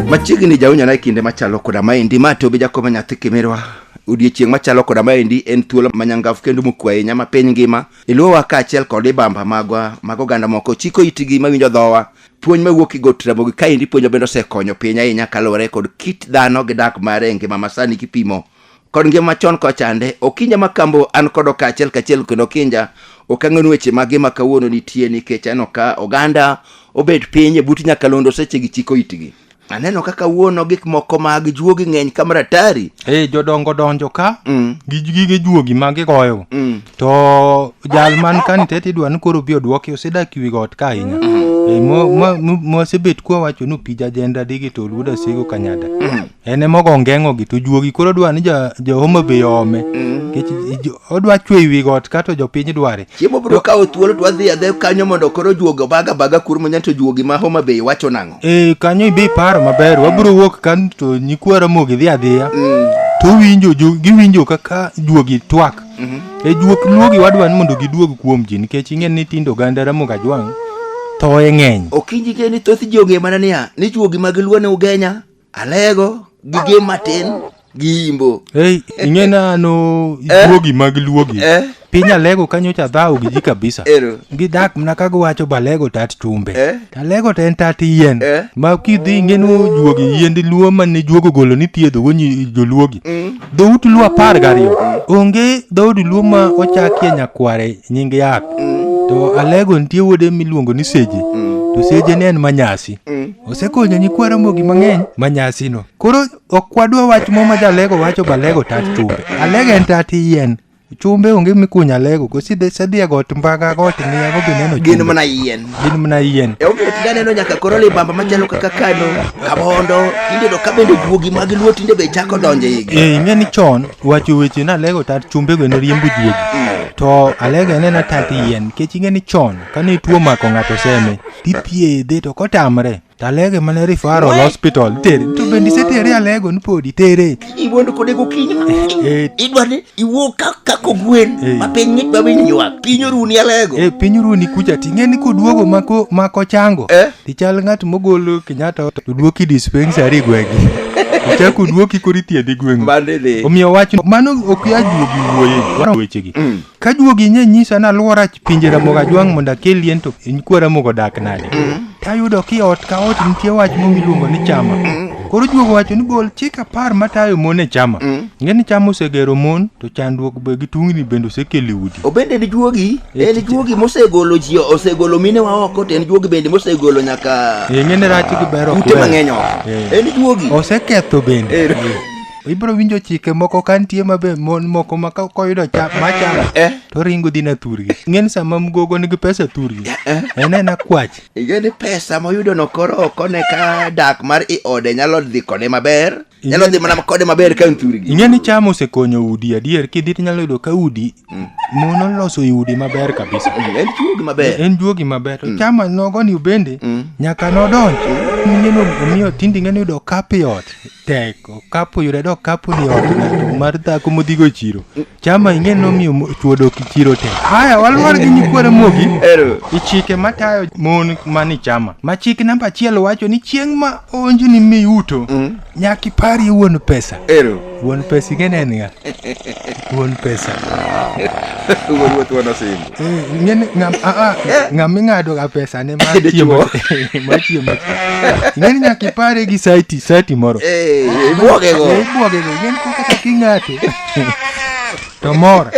machiegni jaunyona e kinde machalo koda maendi ma tobi jakobo nyathi kimirwa odiechieng' machalo koda maendi en thuolo manyangafu kendo mokwe ahinya ma piny ngima iluwowa kaachiel kod ibamba magwa mag oganda moko chiko itigi mawinjo dhowa puonj mawuok e got ramogi kaendi puonjo bende osekonyo piny ahinya kaluwore kod kit dhano gi dak mare e ngima masani kipimo kod ngima machon kochande okinja ma kambo an kod okaachiel kachiel kendo okinja ok ang'enu weche mage ma kawuono nitie nikech aneno ka oganda obet piny e but nyakalondo seche gi chiko itgi aneno ka kawuono gik moko mag juogi ng'eny ka maratari e jodongo donjo ka Mm. gi gige juogi ma gigoyo Mm. to jal man ka nitie tidwa ni koro bi odwoki osedak wi got ka ahinya E, mo- mo- mo- mosebet kwa wacho ni opija jenda digi to luda sego kanyada en ema ogo ngeng'o gi to juogi koro dwa ni ja, jo Homa Bay ome nikech jo- odwa chwe i wi got kato jopiny dware chiemo biro kawo thuolo to wadhi adhe kanyo mondo koro juogi obaga baga kur munya to juogi ma homa bay wacho nang'o e kanyo ibe iparo maber wabiro wuok kan to nyikwa ramogi dhi adhiya to winjo ju- giwinjo kaka juogi twak e juok luogi wadwa ni mondo giduog kuom ji nikech ing'e ni tindo oganda ramogi ajwang' thoye ng'eny okinji ke ni thoth ji ong'e mana niya ni juogi mag luo ne ugenya Alego gi gem matin gi imbo. Hey, ing'e nano Eh? luogi mag luogi. Eh? Piny alego kanyo cha dhao gi ji kabisa. Ero. Gidak mna ka giwacho balego tat chumbe. Eh? Alego to en tat yien. Eh? Ma kidhi ing'eno juogi yiend luo mane juogo golo ni thiedho go nyi joluogi. Dhout luo apar gariyo. Onge dhood luo ma ochakie nyakware nying yath. To alego nitie wuode miluongo ni seje. To seje ne en manyasi. osekonyo nyikwa Ramogi mang'eny ma nyasino. Koro ok wadwa wach mo ma jalego wacho balego tat chumbe. Alego en tat yien. Chumbe onge mikunya alego go sidhe sadhi e got mbaga got ng'iya go bineno chumbe. Gin mana yien. Gin mana yien. E omiyo tinde aneno nyaka koro libamba machalo kaka kano, kabondo, tinde to ka bende juogi mag luo tinde be chako donjo e igi. Eh, ing'e ni chon wacho weche ni alego tat chumbe go ne riembo juogi. To alego en ena tat yien. Nikech ing'e ni chon kane tuo omako ng'ato seme tithiedhe to kotamre to alege mana referral hospital tere to bende isetere alego ni podi tere iwuondo kode gokinyi Eh. idwa ni iwuo ka- kako gwen Eh. ma piny ng'ich ma piny ywak piny oruni alego e piny runi kucha ting'e ni koduogo mako mako chango Eh. tichal ng'at mogolo kenyatta to duoki dispensary gwegi ichak oduoki koro ithiedhi gweng'u Mande dhi. omiyo wach mano ok yajuogi wuoye waro wechegi Ka juogi nye nyisa ni alwora pinje Ramogi Ajwang' mondo akel yien to in kwa Ramogi odak nade? Tayudo ki ot ka ot nitie wach moro miluongo ni chama. Koro juogo wacho ni gol chik apar matayo mon e chama. Ing'e ni chama osegero mon to chandruok be gi tungni bende osekelo e udi. Obende en juogi, Eh, en tich- juogi mosegolo ji, osegolo minewa oko, to en juogi bende mosegolo nyaka Ing'e ni rach gi ber ok ute wer. mang'eny oko. Eh. En juogi. Oseketho bende. Eh. ibro winjo chike moko ka nitie mabe mon moko ma ka- koyudo cha- machamo Eh. to ringo dhi na thurgi ng'eni sama mgogo nigi pesa thurgi en en akwach Ige ni pesa moyudo no koro ok one ka dak mar i ode nyalo dhi kode maber. Nyalo dhi mana kode maber ka nthuri gi. ing'e ni cham osekonyo udi adier kidhi to inyalo yudo ka udi mon oloso i udi maber kabisa En chuo gi maber. en juogi maber to cham nogoni bende nyaka nodonj ing'e ni omiyo tinde ing'e ni yudo kapi ot teko kapo yudo dok kapo ni ot ng'ato mar dhako modhigo e chiro chama ing'e nomiyo mo- chwo dok e chiro te haya waluwar gi nyikwara mogi e chike matayo mon mani chama ma chik namba achiel wacho ni chieng' ma onjni miyuto nyaka iparie wuon pesa wuon pesa ing'e ne en ng'a Wuon pesa. Wuon wuoth wuon osimbo. Eh, ng'eni ng'am a a ng'am ing'ado ga pesa ne mar Dichwo. chiemo. Mar chiemo. Ng'eni nyaka ipare gi saiti, saiti moro. Eh, ibuoge go. Eh, Ibuoge go. Ng'eni kaka kaka ing'ate. To mor.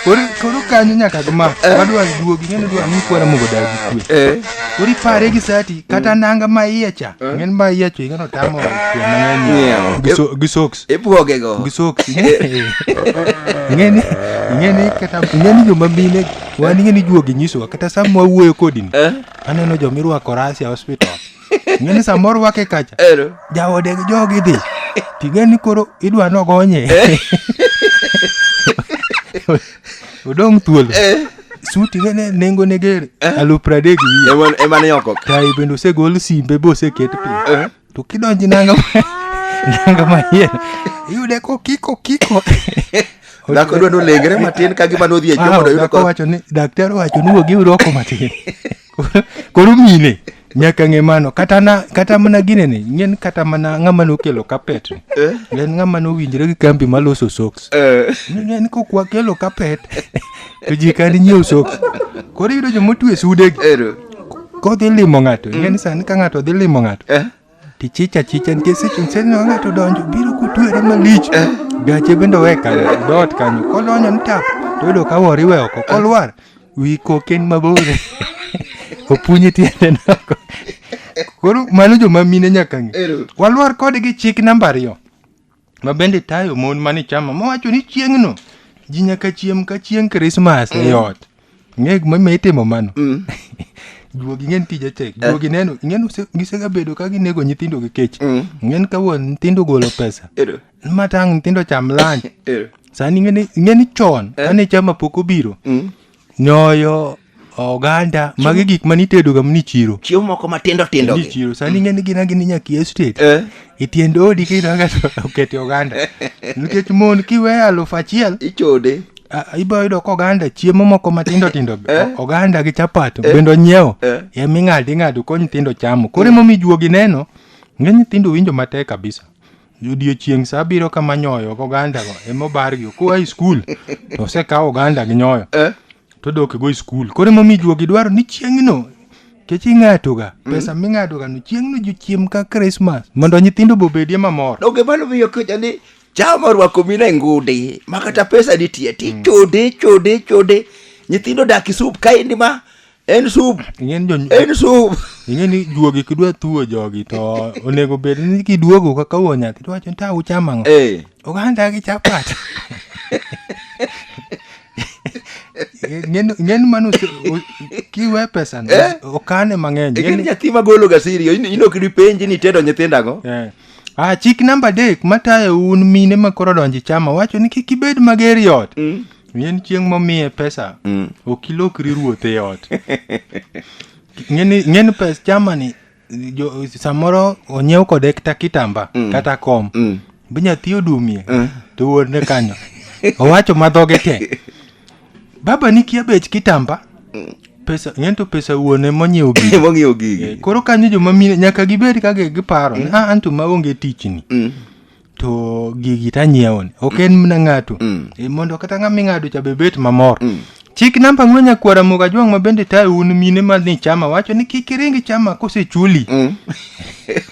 Koro koro kanyo nyaka gma. Wadwa duogi, ng'eni dwa ni kwara mogo dagi kwe. Eh, Koro ipare gi saiti kata nanga ma iye cha. Ng'eni ma iye cha ng'eno tamo kuom ng'eny. Ng'iewo. Gi so- gi socks. Ibwogego. Gi soksi. Ing'eni, ing'eni kata ing'eni joma mine wan ing'eni juogi nyisowa kata sama wawuoyo kodi ni. Eh? Aneno joma irwako Russia hospital. Ing'eni sama orwake kacha. Ero. Jaode gi jogi dhi. Ting'eni koro idwa nogonye. Odong' thuolo. Eh. Suti ing'eni nengo ne ger. Alufu pradek wiye. Eman eman yoko. Tayi bende osegol simbe boseket piny. Eh. to kidonji nanga nanga manyien iyude kokiko kiko dhako dwa nolengre matin ka gima nodhi e Ah, jomo dayudo dhako ka wacho ni daktari owacho ni wuog iwroko matin koro mine nyaka ng'e mano kata na kata mana gine ni ng'en kata mana ng'ama nokelo kapet ni Eh? en ng'ama nowinjre gi kambi maloso socks Eh. en kokwa kelo kapet to ji kani nyiew soko koro iyudo joma otwe sudegi Ero. kodhi limo ng'ato ing'e ni sani ka ng'ato dhi limo ng'ato Eh. tichicha chicha nikech seche msee ni ng'ato donjo biro kutwere malich gache bende owe kanyo dot kanyo kodonjo ni tap toyudo ka wori we oko kolwar wi koken mabor opunye tiende noko koro mano joma mine nyaka ng'e Ero. walwar kodgi chik namba ariyo ma bende tayo mon mane chama mowacho ni chieng'no ji nyaka chiem ka chieng' krismas e ot ng'e gimomiyo itimo mano juogi ng'en tije tek juogi neno ng'en use- gisegabedo ka ginego nyithindo gi kech ng'en ka wuon nyithindo golo pesa Ero. matang' nyithindo cham lunch Ero. sani ng'eni ng'eni chon kane chama pok obiro nyoyo oganda magi gik mane itedoga mani chiro chiemo moko matindo tindo ni gi chiro sani ing'e ni gina gini nyaka iye state Eh. e tiend odi kidonga to okete oganda nikech mon kiweyo alufu achiel ichode a- ibiro yudo ka oganda chiemo moko matindo tindo be, Eh. o- oganda gi chapat Eh. bende onyiewo Eh. ema ing'ado ing'ado ko nyithindo chamo koro emomiyo juogi neno ng'e nyithindo winjo matek kabisa Odiechieng' sa abiriyo kama nyoyo gi ogandago ema obargi. Koa e skul to osekaw oganda gi nyoyo Eh? to odok go e skul. Koro emomiyo juogi dwaro ni chieng'no kech ing'atoga pesa ming'adogano chieng'no jochiem ka Krismas mondo nyithindo be obedie mamor. Donge mano miyo kocha ni jama orwako mina e ngudi ma kata pesa nitie ti chode chode chode nyithindo dak isup kaendi ma en sup ing'eni jo en sup ing'eni juogi kidwa thuo jogi to onego bed ni kiduogo kaka wuo nyathi to wacho ni ta uchamo ang'o eh oganda gi chapat Ing'eni- ing'eni mano ose- o- kiwe pesa no, Eh? okane mang'eny ikini Ing'eni- nyathi magolo gasiri in- inok dipenji ni tedo nyithindo ang'o Eh. Ah, chik namba adek matayo un mine ma koro donjo e chama wacho ni kik ibed mager e ot Mm. en chieng' momiye pesa mm. ok ilokri ruoth e ot ng'eni pes chamani samoro onyiew kode kata kitamba mm. kata kom mm. be nyathi odumie mm. to wuodne kanyo owacho madhoge te baba nikia bech kitamba mm. pesa ng'en to pesa wuone monyiewo gigi monyiewo gigi eh, koro kanyo joma mine nyaka gibed ka giparo mm. ah, anto maonge tichni mm. to gigi tanyiewo ni ok en mna ng'ato Mm. e, mondo kata ng'ama ing'ado cha bebet mamor Mm. chik namba ng'we nyakwara moga jwang' ma bende tayo un mine ma ni chama wacho ni kik iring chama kosechuli Mm.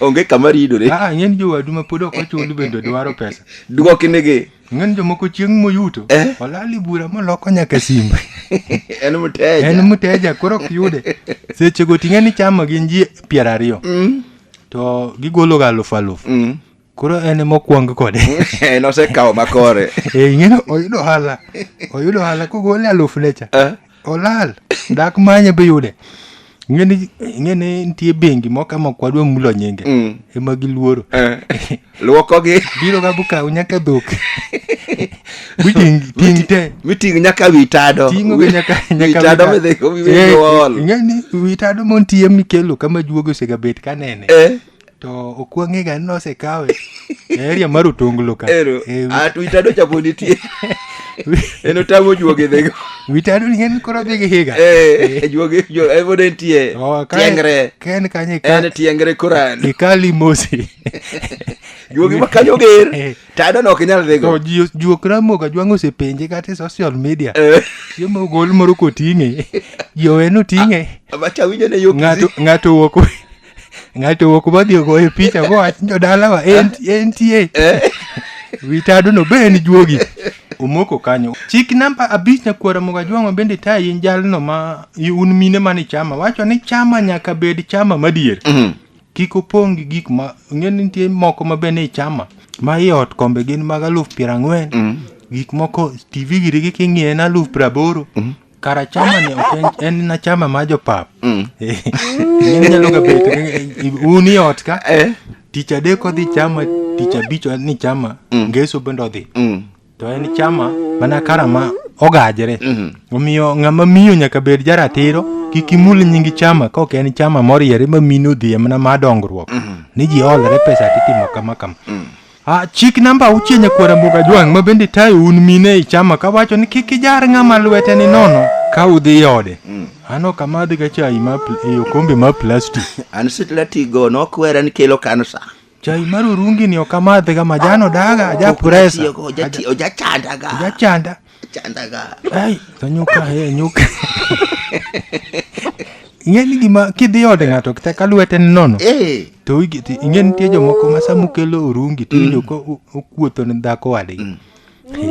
onge kama ridore aa ng'en jowadu ma pod ok ochuli bende dwaro pesa dwoknigi ng'en jomoko chieng' moyuto Eh. olali bura moloko nyaka simba en mteja en mteja koro ok yude sechego ting'e ni chama gin ji piero ariyo Mm. to gigologa alufu alufu Mm. koro en ema okwang kode en osekawo makore Eh, ing'eyo oyudo ohala oyudo ohala kogole aluf ne cha Eh. olal dak manye be yude ing'eni ing'eni nitie bengi moko ma kwadwa mulo nyinge Mm. ema giluoro Eh, luokogi biro ga bukaw nyaka dhok biting ting te miting' nyaka wi tado tingo ga nyaka Wi- wi nyaka tado wita- midhi- midhi Eh, ool. ing'eni wi tado montie mikelo kama juogo osegabet kanene Eh, to ok wang'ega ni nosekawe e area mar otonglo ka ero Eh, wi- at witado cha pod nitie en otamo juoge dhego witado ni en koro dhi gi higa Eh, juoge jo- eh, pod entie Oh, ka- tiengre ka en kanyo en tiengre koran ikali mosi juoge ma kanyo ger Eh. tado no ok nyal to dhego ji- juok ramoga jwang' osepenje kata e social media Eh, chiemo ogol moro koting'e ji owe noting'e macha winjo ne yo ng'ato ng'ato owuok ng'ato owuok modhi ogoyo picha mowach ni jodalawa en- entie witadono be en juogi omoko kanyo chik namba abich nyakwara moga jwang'o bende tayi in jalno ma i- un mine mani chama wacho ni chama nyaka bed chama madier kik opong' gi gik ma ng'e ni nitie moko ma bende i chama ma i ot kombe gin mag aluf piero ang'wen gik moko tv girigi king'iye en aluf piero aboro Kara chama ni ok en- en na chama ma jopap. Inyalo ga bet un i ot ka. Eh. Tich adek odhi chama, tich abich en ni chama, ngeso bende odhi. Mm. To en chama mana kara ma ogajre. Omiyo ng'ama miyo nyaka bed jaratiro kik imul nyingi chama ka ok en chama moriere ma mino odhiye mana ma dongruok. Ni ji olre pesa titimo kama kama. Ah, chik namba auchiel nyakwara mboga jwang' ma bende tayo un mine ei chama kawacho ni kik ijar ng'ama lwete ni nono ka udhi ode mm. an ok amadhga chai ma pl- e okombe ma plastic an sitlatigo nokwera ni kelo kansa chai mar orungi ni ok amadhga majan odaga ajapuresa Oja- oja- ojachandaga ojachanda Chandaga. Ai, to nyuka he, nyuka. Ing'e ni gima kidhi ode ng'ato kata ka lwete ni nono Eh. to wigi ti ing'e nitie jomoko ma sama ukelo orungi to iwinjo ka u- ukuotho ne dhako wadgi. He,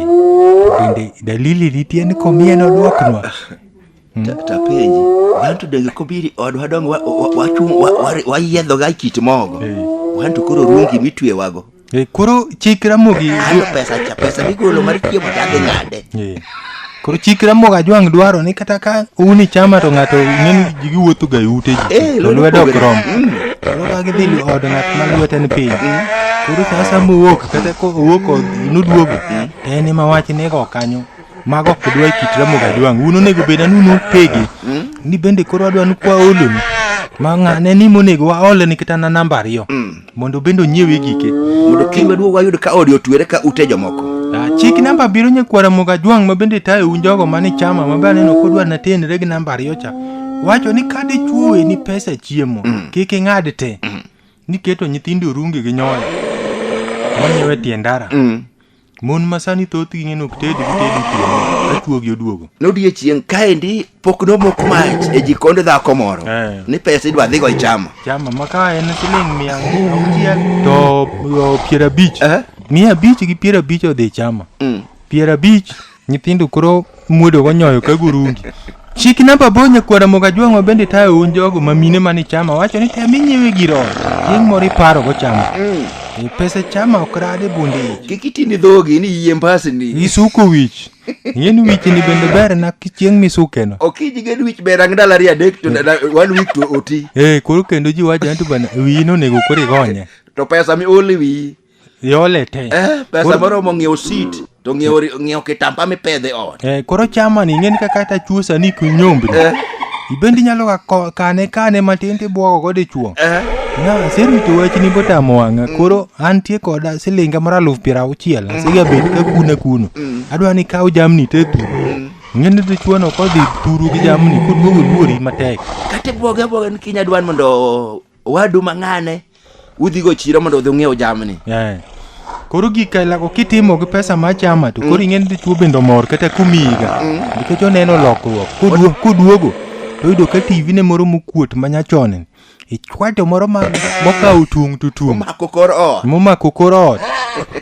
Bende dalili nitie ni komieno dwoknwa. tapenji wan to donge kobiri odwa donge wayiedho ga kit mogo eh. wan to koro rungi mitwewago eh, koro chik ramogi pesa cha pesa migolo mar chiemo chadhi nade eh. koro chik ramogi ajwang' dwaro ni kata ka uni chama to ng'ato ng'eni jigi wuotho ga ute ji to lwedo ok rom mm. koro ka gidhi od ng'at ma lwete ni piny mm. koro sasa mowuok kata kowuok noduogo mm. en ema wach nego kanyo Mago ok dwa kit Ramogi Ajwang'. Un onego bed anu nupegi. Ni bende koro adwa ni kwa oloni. Ma ng'ane ni monego waole ni kata na namba ariyo. Mondo bende onyiewe gike. Mondo kiny maduong' wayud ka odi otwere ka ute jomoko. Ah, Chik namba abiriyo nyakwa Ramogi Ajwang' ma bende tayo un jogo mane chama ma be aneno kodwa na tenre gi namba ariyo cha. Wacho ni ka dichuowe ni pesa chiemo, kik ing'ad te. Niketo nyithindo runge gi nyoyo. Monyiewe tie ndara. Mon ma sani thothgi ng'e nok tedi gitedi otieno ka chuogi oduogo. Nodiechieng' kaendi pok nomok mach e jikond dhako moro Eh. ni pesa idwa dhigo ichamo. Chama ma ka en siling' mia auchiel to o, piero abich. Eh? Mia abich gi piero abich odhi chama. Mm. Piero abich Nyithindo koro muodo gonyoyo ka gurungi. Chik namba bonya kwara moga jwang'o bende tayo un jogo ma mine mane chama wacho ni tem inyiewe gir ot. Chieng' moro iparo go chama. E pesa chama ok rade bunde ich. Kik iti ni dhogi ni yie mbasni. Isuko wich. Ing'e ni wich ni bende ber na ki chieng' misukeno. Okiji gen wich ber ang' ndalo ariyo adek to da- one week to oti. Eh, koro kendo ji wacho ni to bana wiyi nonego koro igonye. To pesa mi ol e wiyi. iole te eh, pesa moro mo ng'iewo sit to ng'iewo kitamba mipedhe ot eh, koro chama ni ing'eni kaka ta chuosa ni kunyombri eh. ibendi nyalo ka kane kane matin tibwogo go dichuo eh. na aserito wachni botamo wang'a mm. koro antie koda silinga moro aluf piero auchiel mm. asiga bed ka kuna kuno mm. adwa ni kaw jamni te tu mm. ng'eni dichuono kodhi turu gi jamni koduogo luori matek kata ibwoge abwoga ni kinya dwan mondo owadu mang'ane udhigo chiro mondo udhi ung'iew jamni Eh. Koro gika ilako kitimo gi pesa ma chama to koro ing'eni dichuo bende omor kata kumiyiga nikech oneno lokruok Koduo- koduogo to oyudo ka TV ne moro mokuot ma nyachon ichwato moro ma mokawo tung' to tung' omako kor ot momako kor ot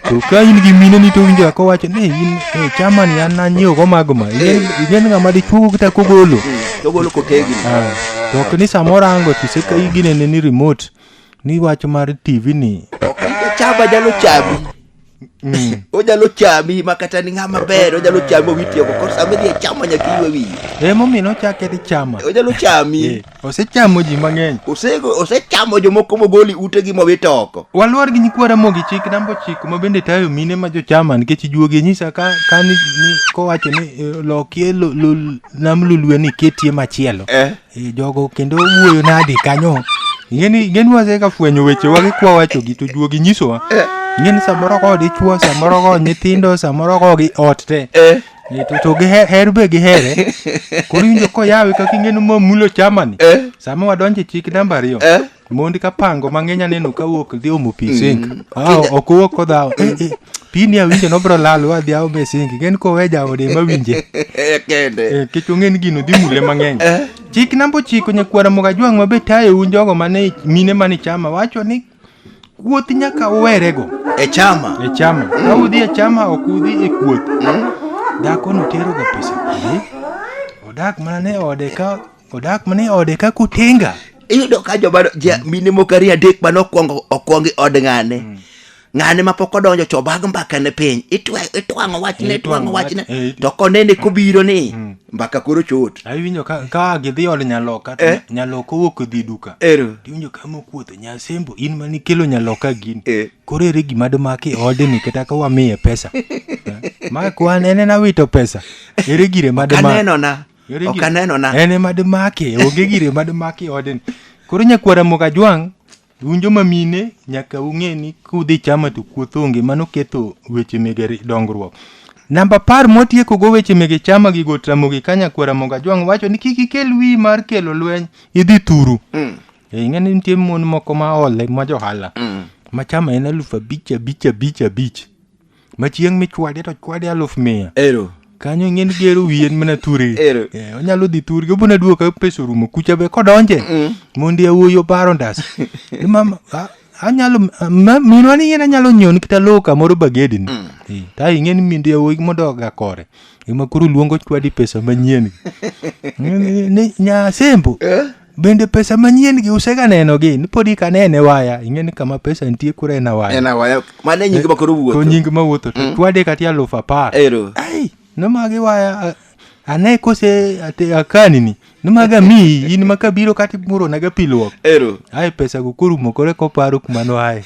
to ka in gi mine ni to winjo ako wacho ni in eh, chama ni an nanyiewgo mago ma ing'en ing'en ng'ama dichuogo kata kogolo to golo kotegini to ok ni samoro ango tise ka iginene ni remote ni wach mar tv ni chaba jalo chabi onyalo chami ma kata ni ng'ama ber onyalo chami owitieko koro sama idhi e chama nyaka iwe wiye emomiyo nochake ni chama onyalo chami Eh, osechamo ji mang'eny Ose- osechamo jomoko mogoli utegi mowito oko waluor gi nyikwa ramogi chik namba ochiko ma bende tayo mine ma jochama nikech juogi nyisa ka, ka ni, ni kowacho ni eh, lokie lo, lo, nam lulue ni ketie machielo eh. e, jogo kendo wuoyo nadi kanyo ing'eni ing'eni waseka fwenyo wechewa gi kwa wachogi to juogi nyisowa eh. ing'eni samoro ko dichwo samoro ko nyithindo samoro ko gi ot te eh. e, to, to giher be gihere koro injo koyawe kaka ing'eni momulo chamani eh. sama wadonje chik namba ariyo eh. Mondi ka pango mang'eny aneno ka wuok dhi omo pi sink. Mm. Ah, ok wuok kodhawo. Eh, eh, pi ni awinjo nobro lal wa dhi aome sink. Gen kowe jaode ma winje. Eh, kende. Eh, kech ong'en gino dhi mule mang'eny. Eh. Chik namba ochiko nyakwara moga jwang' ma be tayo un jogo mane mine mane chama wacho ni kuoth nyaka uwerego. E chama. E chama. Mm. Ka udhi e chama ok udhi e kuoth. Mm. Dhako notero ga pesa. Eh? Odak mana ne ode ka Odak mana e ode kaka otenga. iyudo ka joma ja, mine moko ariyo adek mane okwongo okwongo i od ng'ane ng'ane ma pok odonjo to obag mbaka ne piny Itwe- itwang'o wachne itwang'o wachne Eh, to konene kobiro ni mbaka koro chot Awinjo ka ka gidhi od nyaloka to Eh. nyaloka owuok odhi duka. ero Tiwinjo ka mokuotho nyasembo in mane ikelo nyaloka gini. Eh. Koro ere gima domak e odni kata ka wamiye pesa. Eh, Ma kwan en en awito pesa. Ere gire ma domak. kanenona ok aneno na en ema dimake onge gire ma dimake e odni koro nyakwara mokajwang' un joma mine nyaka ung'e ni kudhi chama to kuoth onge mano ketho weche mege ri- dongruok namba apar mwatiekogo weche mege chama gi gotramogi ka nyakwara mokajwang' wacho ni kik ikel wiyi mar kelo lweny idhi thuru Eh, ing'e ni nitie mon moko ma ole ma johala ma chama en alufu abich abich abich abich ma chieng' michwade to chwade aluf mia ero kanyo ing'e ni gero wiye en mana ture Ero. Eh, onyalo dhi turgi obona duoka pesa orumo kucha be kodonje mondi awuoyi obaro ndas Ni mama a- anyalo ma- minwa ni yien anyalo nyiewo nikita lowo kamoro bagedini Eh, ta ing'e ni mindi awuoyi modoga kore ema koro luongo chwadi pesa manyien Ni- ni- ni- nyasembo Bende pesa manyien gi usega neno gi ni podi ka nene waya ing'e ni kama pesa nitie kura en awaya. en awaya mano e nying ma koro Ko wuotho nying ma wuotho to twade kati aluf apar. ero Ai, nomagi waya a- ane kose ate akani ni. Nomaga miyi in ma kabiro kati muro naga piluok. ero Ai pesa go korumo kore koparo kuma no ae.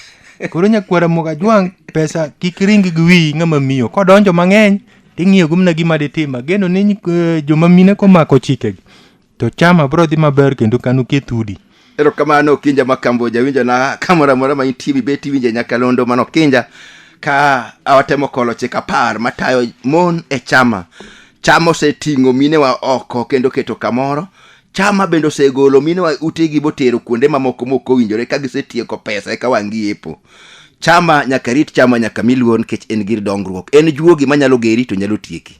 Koro nyakwara moga jwang pesa kik ring gi wiyi ng'ama miyo. Kodonjo mang'eny ting'iyo gumna gima ditima. Geno ni eh, joma mine komako chikegi. to chama bro dhi maber kendo kanu keth udi erokamano kinja ma kamboja winjo na kamoro amora ma intie mibet iwinje nyakalondo mano kinja ka awatemo kolo chik apar matayo mon e chama chama oseting'o minewa oko kendo keto kamoro chama bende osegolo minewa utegi botero kuonde mamoko mok owinjore ka gisetieko pesa eka wang' giepo chama nyaka rit chama nyaka mi luor nikech en gir dongruok en juogi manyalo geri to nyalo tieki